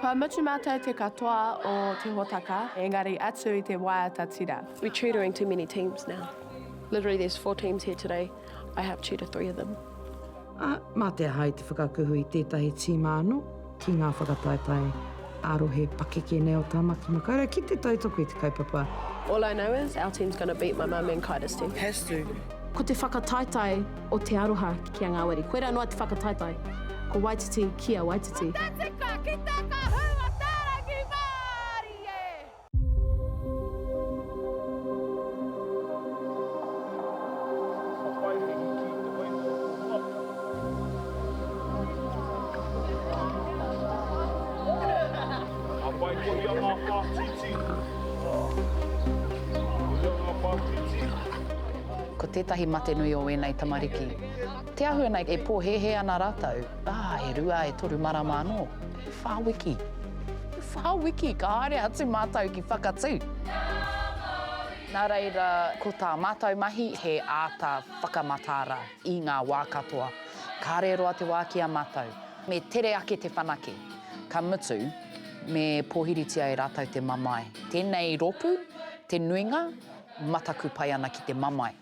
Kua mutu matou te katoa o te hotaka engari atu i te waiata tira. We tutoring too many teams now. Literally there's four teams here today. I have two to three of them. Ā, mā te aha i te whakakuhu i tētahi tīma anō ki ngā whakataetae ā-rohe pakeke nei o Tāmaki Makaurau ki te tautoko i te kaupapa. All I know is our team's gonna beat my mum and Kaida's team. Has to. Ko te whakataetae o Te Aroha ki a Ngāwari. Koirā noa te whakataetae. Ko Waititi ki a Waititi. Ko te tika ki te kahunga tārangi mārie! Ko tētahi mate nui o ēnei tamariki, te āhua nei e pōhēhē ana rātou, ā, e rua, e toru marama anō. E wha wiki, e wha wiki ka haere atu mātou ki Whakatū. Nā reira, ko tā mātou mahi he āta whakamataara i ngā wā katoa. Kāre roa te wā ki a mātou. Me tere ake te whanake, ka mutu, me pōhiritia e rātou te mamae. Tēnei rōpū, te nuinga, mataku pai ana ki te mamae.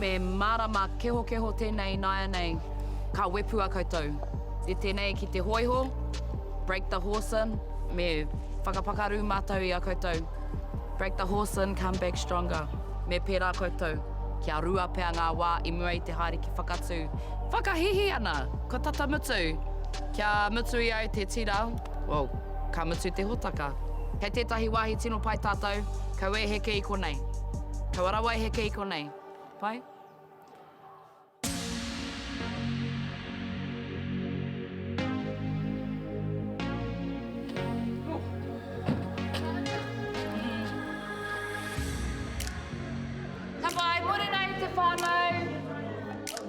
Me mārama kehokeho tēnei nāianei ka wepua koutou i tēnei ki te hōiho, break the horse in, me whakapakaru mātou i a koutou, break the horse in, come back stronger, me pērā koutou, kia rua pea ngā wā i mua i te haere ki Whakatū, whakahīhī ana, kua tata mutu, kia mutu i au te tira, well, ka mutu te hōtaka. Kei tētahi wāhi tino pai tātou, Kau e heke i konei. Kaua rawa e heke i konei. Pai?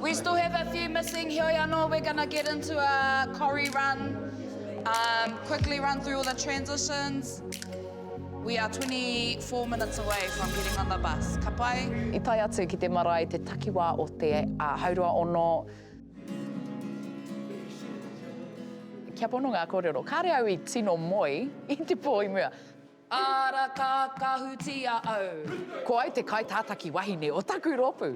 We still have a few missing, heoi anō, we're going to get into a Corrie run, quickly run through all the transitions. We are 24 minutes away from getting on the bus. Ka pai? I tae atu ki te marae te takiwā o te Haurua Ono. Kia pono ngā kōrero. Kāre au i tino moe i te pō i mua. Ara ka kahutia au. Ko au te kaitātaki wahine o taku rōpū.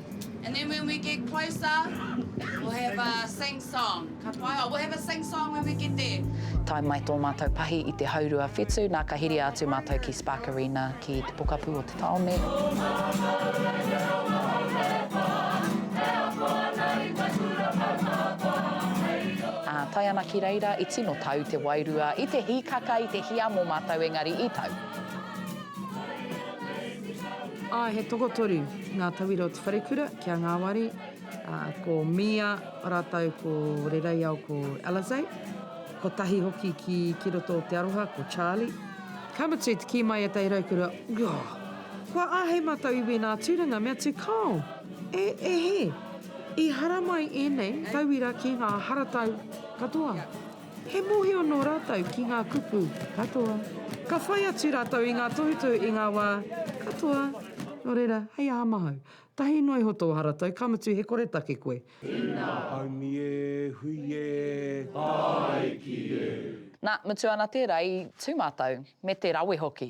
And then when we get closer, we'll have a sing song. Ka pai, oh, we'll have a sing song when we get there. Tae mai tō mātou pahi i te haurua whetū, nā ka hiria atu mātou ki Spark Arena ki te pokapū o te tāone. Ā, tae ana ki reira, i tino tau te wairua i te hīkaka, i te hiamo mātou engari i tau. Āe, he tokotoru ngā tauira o te wharekura ki a Ngāwari, ā, ko Mia rātou ko Rereiao ko Alizé, kotahi hoki ki ki roto o Te Aroha ko Charlie. Ka mutu, te kī mai ētahi raukura, Ooh! Kua āhei mātou i wēnā tūranga me atu kāo! E, e hē! I haramai ēnei tauira ki ngā haratau katoa. He mōhio nō rātou ki ngā kupu katoa. Ka whai atu rātou i ngā tohutohu i ngā wā katoa. Nō reira, hei aha mahau? Tahi noa iho tō haratau, ka mutu he koretake koe. Ina! Haumi e, hui e, haere ki e! Na, mutu ana tērā i tū mātou, me te rawe hoki.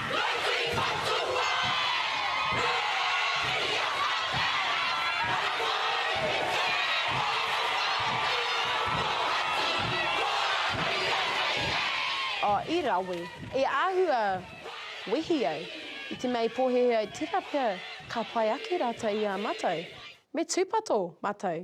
O, i rawe. I āhua wehi ai. I te mea i pōhēhē ai tērā pea ka pai ake rātou i a mātou. Me tūpato mātou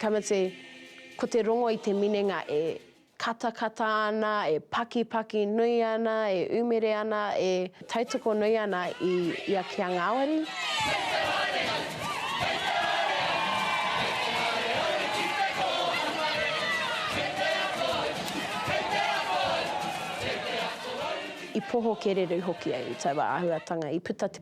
Tamati, Ko te rongo i te minenga e katakata ana, e pakipaki nui ana, e umere ana, e tautoko nui ana i ia ki a ngāwari. I poho kereru hoki au i taua āhuatanga i puta te.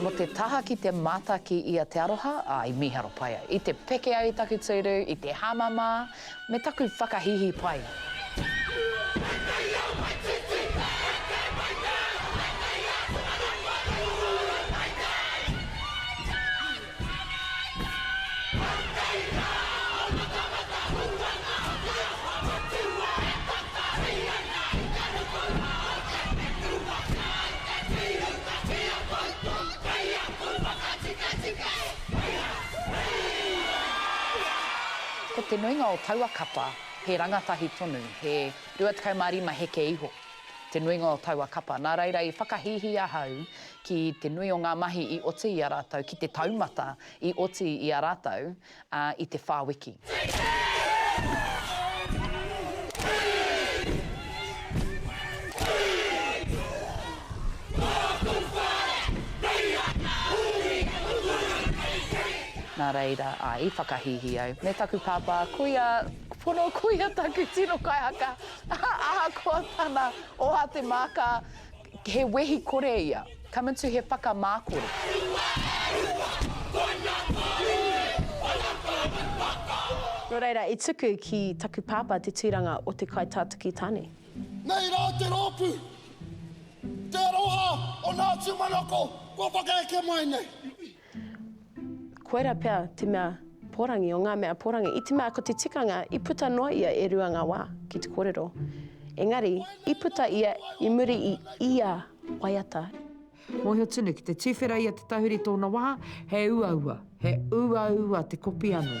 Mo te taha ki te mataki i a Te Aroha, a, i miharo pai ai. I te peke ai taku tūru, i te hamama, me taku whakahihi pai. Ko te nuinga o taua kapa he rangatahi tonu, he 25 heke iho te nuinga o taua kapa, nā reira i whakahīhī ahau ki te nui o ngā mahi i oti i a rātou, ki te taumata i oti i a rātou i te whā wiki. Nā reira, i whakahīhī au, me taku pāpā, kuia pono, kuia taku tino kaihaka, ahakoa tana oha te māka, He wehi kore ia. Come into he whakamā kore. Nō reira, i tuku ki taku pāpā te tūranga o te kaitātuki tāne. Nei rā te rōpū, Te Aroha o Ngāti Manoko kua whakaeke mai nei. Koira pea te mea porangi o ngā mea porangi, i te mea ko te tikanga i puta noa ia e rua ngā wā ki te kōrero. Engari, i puta ia i muri i ia waiata. Mōhio tunu, ki te tuwhera i a Te Tahuri tōna wā, he uaua, he uaua te kopi anō.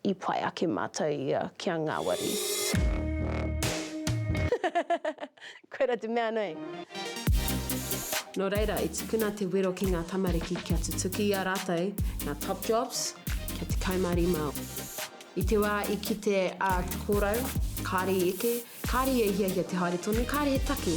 I pai ake mātou i a kia ngāwari. Koira te mea nei. Nō reira, i tukuna te wero ki ngā tamariki kia tutuki i a rātou ngā top jobs kia 15 o. I te wā i kite a Te Kōrau, kāre i eke, kāre ia i hiahia te haere tonu, kāre he taki.